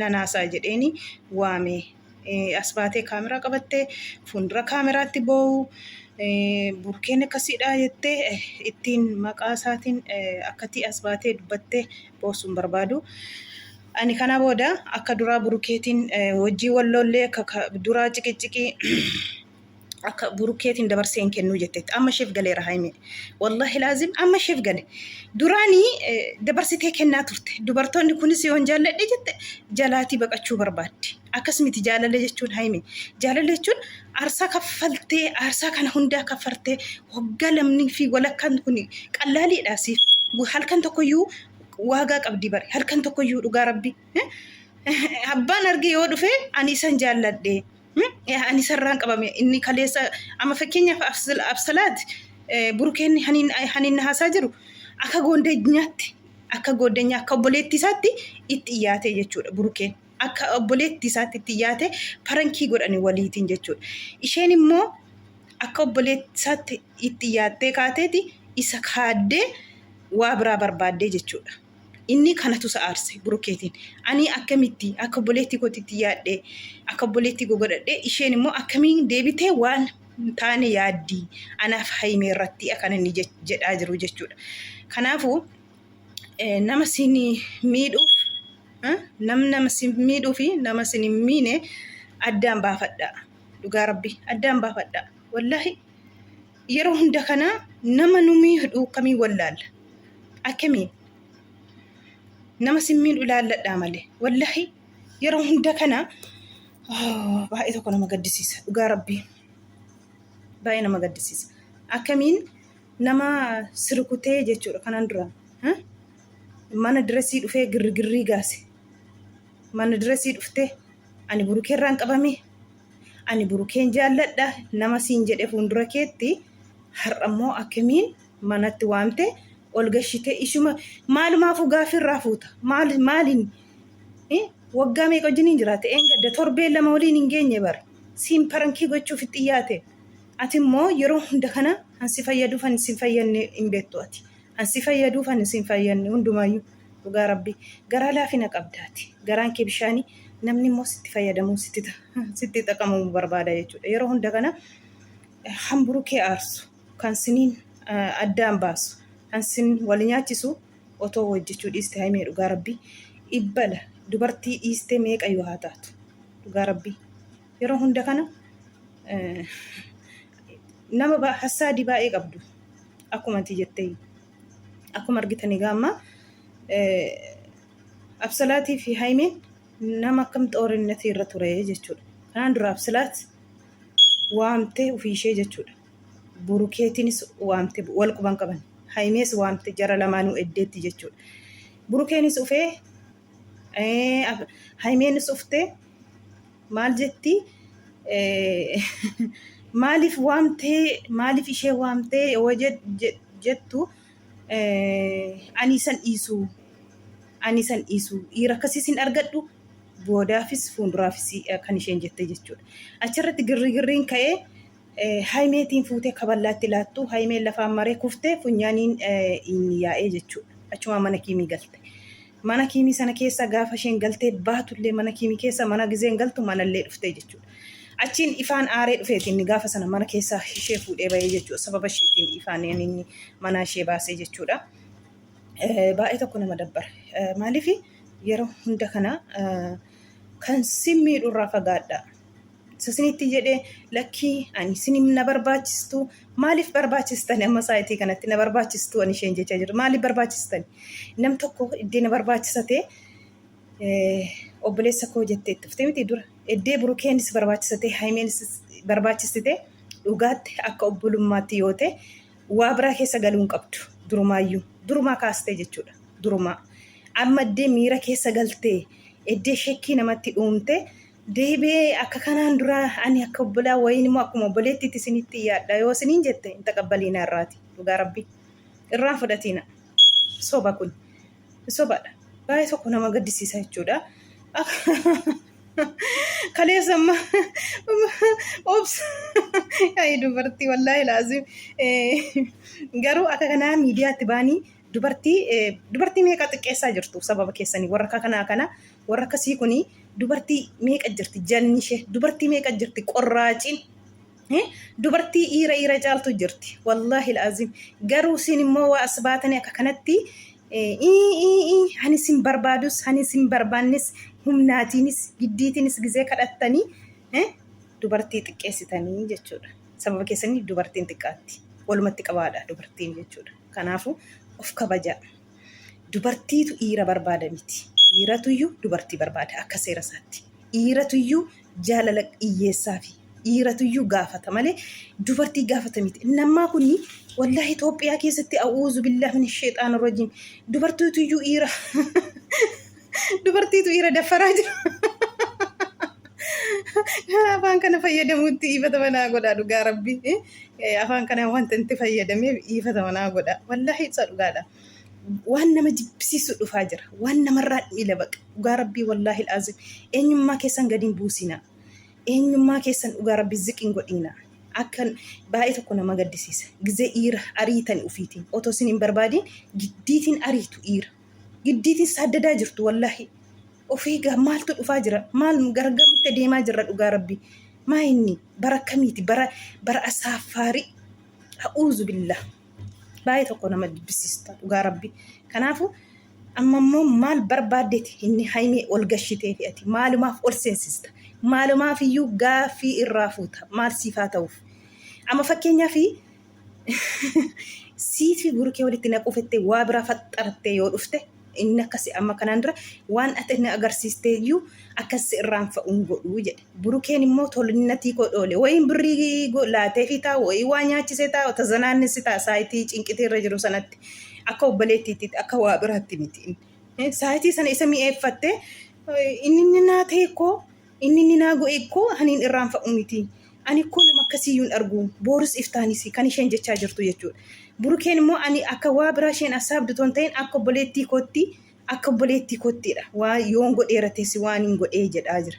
nan haasa'a jedheeni waame. As baatee kaameraa qabattee fuuldura kaameraatti boo'u burkeen akkasiidha jettee ittiin maqaa isaatiin akkatii as baatee dubbattee boo'su hin barbaadu. Ani kana booda akka duraa burukeetiin hojii walloollee akka duraa ciqiciqii akka burkeetiin dabarsee hin kennuu jetteetti amma isheef galeera haayime wallahi laazim amma isheef gale duraanii dabarsitee kennaa turte dubartoonni kunis yoon jaalladhe jette jalaatii baqachuu barbaaddi akkas miti jaalala jechuun haayime jaalala jechuun aarsaa kaffaltee aarsaa kana hundaa kaffartee waggaa lamnii fi walakkaan kun qallaaliidha siif halkan tokkoyyuu waagaa qabdi bare halkan tokkoyyuu dhugaa rabbi abbaan arge yoo dhufe ani isan jaalladhe Ani sarraan qabame inni kaleessa amma fakkeenyaaf absalaati burkeen haniin haasaa jiru akka goondeenyaatti akka goodeenyaa akka obboleettii isaatti itti dhiyaate jechuudha burkeen akka obboleettii isaatti itti dhiyaate parankii godhani waliitiin jechuudha isheen immoo akka obboleettii isaatti itti dhiyaattee kaateeti isa kaaddee waa biraa barbaaddee jechuudha. Inni kanatu isa aarse Burukeetiin. Ani akkamitti akka obboleettii kootitti yaadhee akka obboleettii koo godhadhee isheen immoo akkamiin deebitee waan hin taane yaaddi anaaf hayimee irratti kan inni jedhaa jiru jechuudha. Kanaafuu nama siin miidhuuf nam nama siin miidhuu fi nama siin hin miine addaan baafadhaa. Dhugaa rabbi addaan baafadhaa. Wallaahi Yeroo hunda kana nama nu miidhu dhuukkamiin wallaalla. Akkamiin? Nama sin miidhu ilaalladhaa malee. Wallahi yeroo hunda kana baay'ee tokko nama gaddisiisa. Dhugaa rabbii. Baay'ee nama gaddisiisa. Akkamiin nama sirkutee jechuudha kanaan dura. Mana diresii dhufee girrigirrii gaase. Mana diresii dhuftee ani burukeerraan qabamee Ani Burukeen jaalladha nama siin jedhe fuundura keetti har'a immoo akkamiin manatti waamte ol gashite ishuma maalumaafuu gaaffii irraa fuuta maal maaliin eh, waggaa meeqa wajjin hin jiraate een gadda torbee lama waliin hin geenye bar siin parankii gochuuf itti dhiyaate ati immoo yeroo hunda kana kan si fayyadu kan si hin fayyadne hin beektu ati. An si fayyaduuf an si hin fayyanne hundumaayyuu dhugaa rabbii garaa laafina qabda ati garaan kee bishaani namni immoo sitti fayyadamuu sitti ta- sitti xaqamamu barbaada jechuudha yeroo hunda kana eh, kan burukee aarsu kan siniin eh, addaan baasu kan sin wal nyaachisu otoo hojjechuu dhiiste haimee dhugaa rabbii ibbala dubartii dhiistee meeqayyuu haa taatu dhugaa rabbii yeroo hunda kana eh, nama ba- hassaadii baay'ee qabdu akkuma ati jette akkuma argitan egaa amma absalaatii fi haymeen nama akkam xoorinnatii irra ture jechuudha kanaan dura absalaat waamtee ofii ishee jechuudha burukeetiinis waamte wal quban qaban haymees waamte jara lamaanuu eddeetti jechuudha burukeenis ufee Eh, af- Haymeenis uftee maal jetti Eh, maaliif waamtee maaliif ishee waamtee yoo jet- jet- jettu eh, ani isan dhiisu ani isan dhiisu dhiira akkasii sin argadhu boodaafis fuulduraafis eh, kan isheen jette jechuudha. Achirratti girrigirriin ka'ee Hayimeetiin fuutee kaballaatti laattu Hayimeen lafaan maree kuftee funyaaniin inni yaa'ee jechuudha. Achumaan mana kiimii galte. Mana kiimii sana keessa gaafa isheen galtee baatullee mana kiimii keessa mana gizeen galtu manallee dhuftee jechuudha. Achiin ifaan aaree dhufeeti inni gaafa sana mana keessaa ishee fuudhee bahee jechuudha. Sababa isheetiin ifaan inni manaa ishee baasee jechuudha. Baay'ee tokko nama dabbara. Maaliif yeroo hunda kana kan si miidhurraa fagaadhaa. sasinitti jedhe lakkii ani sinim na barbaachistu maaliif barbaachistan amma saayitii kanatti na barbaachistu ani isheen jechaa jirtu maaliif barbaachistan nam tokko iddee na barbaachisate obboleessa koo jettee itti fufte miti dura iddee burukeenis barbaachisate haymeenis barbaachistite dhugaatti akka obbolummaatti yoo ta'e waa biraa keessa galuu hin qabdu durumaayyuu durumaa kaastee jechuudha durumaa amma iddee miira keessa galtee iddee shekkii namatti uumtee Deebi'ee akka kanaan duraa ani akka obbolaa wayiin immoo akkuma obboleettiitti isinitti yaadha yoo isiniin jette hin taqabbaliina irraati dhugaa rabbii irraan fudhatiina soba kun sobadha baay'ee tokko nama gaddisiisa jechuudha kaleessa amma obs yaa'ii dubartii wallaahi laazim garuu akka kanaa miidiyaatti baanii dubartii dubartii meeqa xiqqeessaa jirtu sababa keessanii warra kanaa kana Warra akkasii kun dubartii meeqa jirti janni ishee dubartii meeqa jirti qorraaciin dubartii iira iira caaltu jirti wallaahi laaziim garuu isin immoo waa as baatanii akka kanatti ani isin barbaadus ani isin barbaannis humnaatiinis giddiitiinis gizee kadhattanii dubartii xiqqeessitanii jechuudha sababa keessanii dubartiin xiqqaatti walumatti qabaadha dubartiin jechuudha kanaafuu of kabajaa. Dubartiitu dhiira barbaada miti. Dhiiratuyyuu dubartii barbaada akka seera isaatti. Dhiiratuyyuu jaalala dhiyyeessaafi. Dhiiratuyyuu gaafata malee dubartii gaafata miti. Inni ammaa kun wallaahi Itoophiyaa keessatti a'uuzu billaah min sheexaana rajiim dubartiituyyuu dhiira Dubartiitu dhiira daffaraa jira. Afaan kana fayyadamuutti dhiifata manaa godhaa dhugaa rabbi. Afaan kana wanta itti fayyadameef dhiifata manaa godhaa. Wallaahi ibsa dhugaadha. Waan nama jibbisiisu dhufaa jira. Waan namarraa miila baqa. Dhugaa rabbii wallaahi laaziim. Eenyummaa keessan gadi hin buusinaa. Eenyummaa keessan dhugaa rabbi ziqin godhiinaa. Akkan baay'ee tokko nama gaddisiisa. Gizee dhiira ariitani ufiitiin. Otoo isin hin barbaadiin giddiitiin ariitu dhiira. giddiitiin saaddadaa jirtu wallahi ofii gaa maaltu dhufaa jira maal gargamitti adeemaa jirra dhugaa rabbi maa inni bara kamiiti bara bara asaaffaarii ha'uuzu billaa baay'ee tokko nama dibbisiista dhugaa rabbi kanaafu amma immoo maal barbaaddeeti inni haymee ol gashitee fi ati maalumaaf ol seensista maalumaaf iyyuu gaaffii irraa fuuta maal siifaa ta'uuf amma fakkeenyaa fi Siifi burkee walitti naquu fettee waa biraa faxxarattee yoo dhufte inni akkasi amma kanaan dura waan ati inni agarsiistee iyyuu akkasi irraan fa'uun godhuu jedhe. Burkeen immoo tolinatii koo dhoole wayiin birrii laatee fi taa'u wayii waa nyaachisee taa'u tazanaannissi ta'a saayitii cinqitii irra jiru sanatti akka obboleettiitti akka waa biraatti miti. Saayitii sana isa mi'eeffattee inni inni naa ta'e koo Inni inni naa go'e koo ani hin irraanfa'u miti. Ani koo nama akkasii iyyuu hin argu. Boorus iftaanis kan isheen jechaa jirtu jechuudha. Burukeen immoo ani akka waa biraa isheen assaabdu otoo hin ta'in akka obboleettii kootti akka obboleettii koottiidha. Waa yoon godheera teessi waan hin godhee jedhaa jira.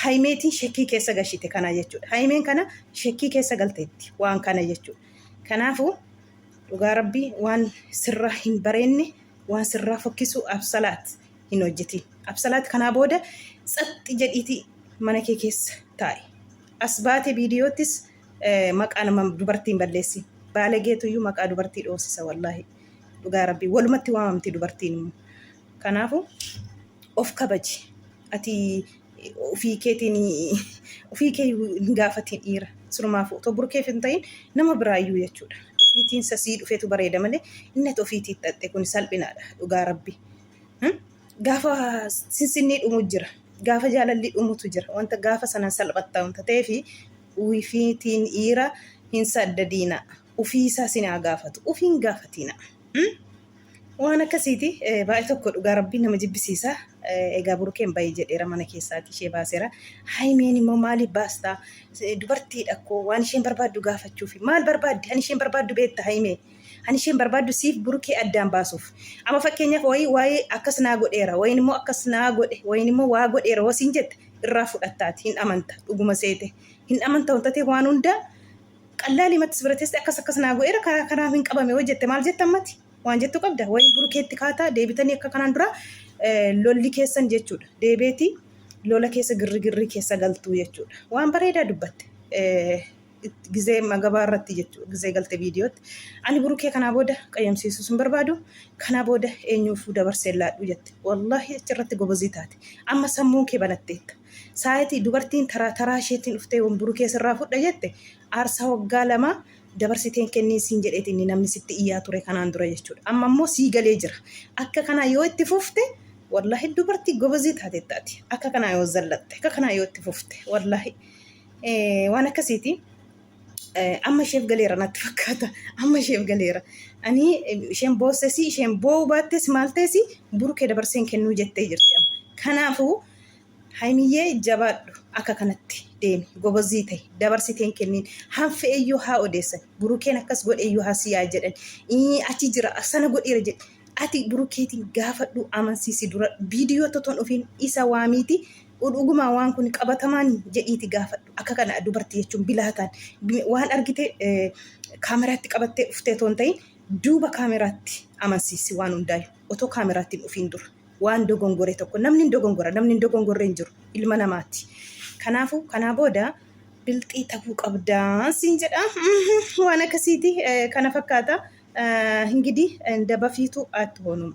Hayimeetiin shekkii keessa gashite kana jechuudha. Hayimeen kana shekkii keessa galteetti waan kana jechuudha. Kanaafuu dhugaa rabbii waan sirraa hin bareenne waan sirraa fokkisu absalaat hin hojjetin. Absalaat kanaa booda tsaxxi jedhiiti mana kee keessa taa'i. As baate viidiyoottis eh, maqaa nama dubartiin balleessi. Baalageetu iyyuu maqaa dubartii dhoosisa wallaahi. Dhugaa rabbii walumatti waamamti dubartiin immoo. Kanaafu of kabaji. Ati ofii keetiin ofii kee hin gaafatiin dhiira. Surmaafu otoo burkeef hin ta'in nama biraayyuu jechuudha. Ofiitiin sasii dhufetu bareeda malee inni ati ofiitii xaxxe kun salphinaadha dhugaa rabbii. Gaafa sinsinnii dhumu jira. Gaafa jaalalli dhumutu jira. Wanta gaafa sanan salphatta wanta ta'eef wifiitiin dhiira hin saddadiina. Ufii isaa sin haa gaafatu. Ufiin gaafatiina. Waan akkasiiti baay'ee tokko dhugaa rabbii nama jibbisiisa. Egaa burukeen baay'ee jedheera mana keessaati ishee baaseera. Haymeen immoo maaliif baastaa? Dubartiidha koo waan isheen barbaaddu gaafachuufi. Maal barbaaddi? Ani isheen barbaaddu beekta haymee. Kan isheen barbaaddu siif burukee addaan baasuuf. Amma fakkeenyaaf wayii waa'ee akkas naa godheera wayin immoo akkas naa godhe wayin immoo waa godheera hoo siin jette irraa fudhattaati hin amanta dhuguma seete hin amanta wanta ta'e waan hundaa qallaalii matti sibira teessee akkas akkas naa godheera karaa kanaaf hin qabame hoo jette maal jetta ammati waan jettu qabda wayin burukeetti kaataa deebitanii akka kanaan dura lolli keessan jechuudha deebeetii lola keessa girri girrii keessa galtuu jechuudha waan bareedaa dubbatte. gizee magabaa irratti jechuudha gizee galte viidiyootti ani burukee kanaa booda qayyamsiisuu sun barbaadu kanaa booda eenyuufuu dabarsee laadhu jette wallaahi achirratti gobozii taate amma sammuun kee banatteetta saayitii dubartiin taraa taraa isheetiin dhuftee wan burukee sirraa fudha jette aarsaa waggaa lamaa dabarsiteen kennii siin jedheeti inni namni sitti iyyaa ture kanaan dura jechuudha amma immoo sii galee jira akka kanaa yoo itti fufte wallaahi dubartii gobozii taateettaati akka kanaa yoo zallatte akka kanaa yoo itti fufte wallaahi Eh, waan akkasiiti Eh, amma isheef galeera natti fakkaata amma isheef galeera ani eh, isheen boossesi isheen boo'uu baattes maal ta'esi burkee dabarseen kennuu jettee jirti amma kanaafuu haymiyyee jabaadhu akka kanatti deemi gobozii ta'e dabarsiteen kenniin hanfe eyyuu haa odeessan burukeen akkas godhe eyyuu haa siyaa jedhan Ii, achi jira sana godheera jedhe ati burukeetiin gaafadhu amansiisi dura viidiyoo totoon ofiin isa waamiiti Dhugumaa waan kun qabatamaani jedhiiti gaafadhu. Akka kana dubartii jechuun bilaataan waan argite kaameraatti qabattee dhuftee otoo hin ta'in duuba kaameraatti amansiisi waan hundaayu. Otoo kaameraatti hin dhufiin dura waan dogongore tokko namni hin dogongora namni hin dogongorre hin jiru ilma namaati. Kanaafuu kanaa booda bilxii ta'uu qabdaa siin jedha waan akkasiiti kana fakkaata. Hingidii dabafiitu aatti hoonuma.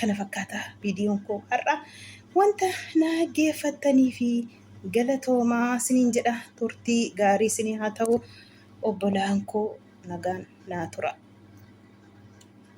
kana fakkaata viidiyoon koo har'a wanta na geeffattanii fi galatoomaa siniin jedha turtii gaarii sinii haa ta'u obbolaan koo nagaan naa tura.